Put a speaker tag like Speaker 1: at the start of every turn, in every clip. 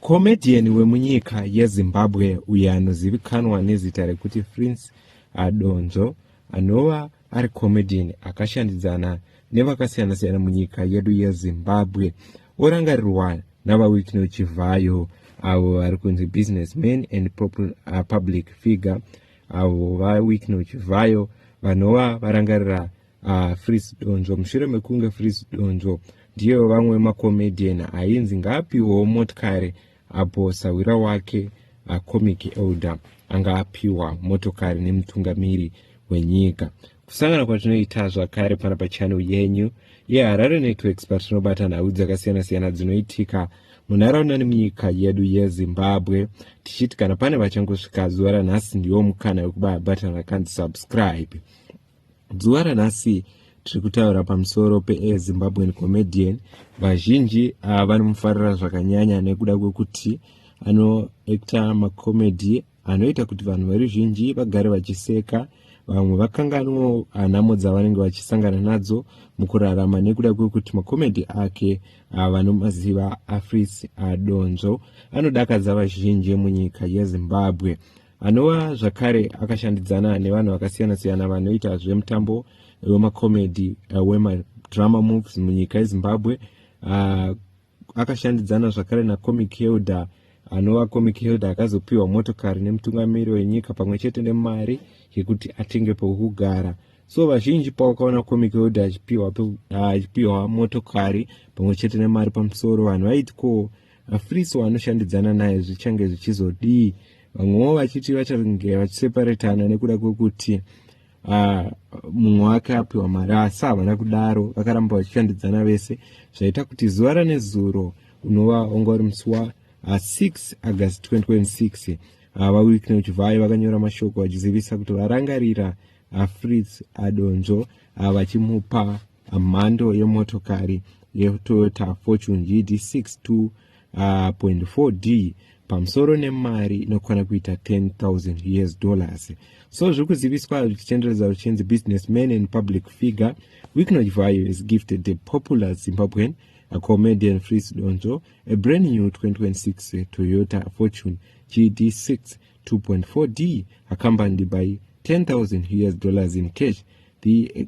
Speaker 1: Comedian wemunyika yeZimbabwe uyo anozivikanwa nezita rekuti Prince Adonzvo anova ari comedian akashandidzana nevakasiyana-siyana munyika yedu yeZimbabwe orangarirwa naVaWikno Chivhayo avo vari kunzi businessman and uh, public figure avo VaWikno Chivhayo vanova varangarira Ah, Fritz Donzvo, mushure mekunge Fritz Donzvo ndiye vamwe macomedian ainzi ngaapiwewo motikari apo sahwira wake acomic ah, elder anga apiwa motokari nemutungamiri wenyika. Kusangana kwatinoita zvakare pana pachannel yenyu yeHarare Networks patinobata nhau dzakasiyana-siyana dzinoitika munharaunda nemunyika yedu yezimbabwe tichiti kana pane vachangosvika zuva ranhasi ndiwo mukana wekubabatana kanzi subscribe Zuva ranhasi tiri kutaura pamusoro pezimbabwean comedian vazhinji ah, vanomufarira zvakanyanya nekuda kwekuti anoacta macomedy anoita kuti vanhu veruzhinji vagare vachiseka vamwe vakanganwo ah, nhamo dzavanenge vachisangana nadzo mukurarama nekuda kwekuti macomedy ake ah, vanomaziva afris donzvo anodakadza vazhinji munyika yezimbabwe anova zvakare akashandidzana nevanhu vakasiyana-siyana vanoita zvemutambo wemacomedy uh, wemadrama moves munyika yezimbabwe uh, akashandidzana zvakare nacomic hilda anova comic hilda akazopiwa motokari nemutungamiri wenyika pamwe chete nemari yekuti atenge pokugara so vazhinji pawakaona comic hilda achipiwa achipiwa motokari pamwe chete nemari pamusoro vanhu vaiti ko Afritso anoshandidzana naye zvichange zvichizodii vamwewo vachiti vachange vachiseparetana nekuda kwekuti ah, mumwe wake apiwa mari asi havana kudaro vakaramba vachishandidzana vese zvaita kuti zuva ranezuro unova wanga uri musi wa6 ah, august 2026 ah, vawickney uchivhayo vakanyora mashoko vachizivisa kuti varangarira afritz adonzvo vachimupa mhando yemotokari yetoyota fortune gd 62.4d pamusoro nemari inokwana kuita 10000 us dollars so zviri kuziviswa zvichitenderedza zvichinzi business man and public figure wicknoch vayo is gifted the popular zimbabwean a comedian fris donzo a brand new 2026 toyota fortune gd 6 2.4d accompanied by 10000 us dollars in cash the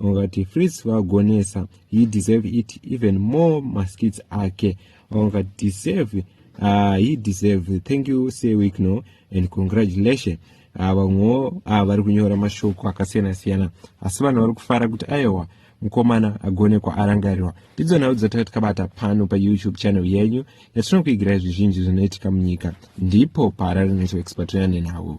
Speaker 1: vakati fritz vagonesa he deserve it even more maskits ake vakati deserve uh, he deserve thank you say week no and congratulation ah, vamwewo uh, uh, vari kunyora mashoko akasiyana siyana asi vanhu vari kufara kuti aiwa mukomana agone kwaarangarirwa ndidzo nhau dzataka tikabata pano payoutube channel yenyu yatinokuigirai zvizhinji zvinoitika munyika ndipo paharare networks patinoya nenhau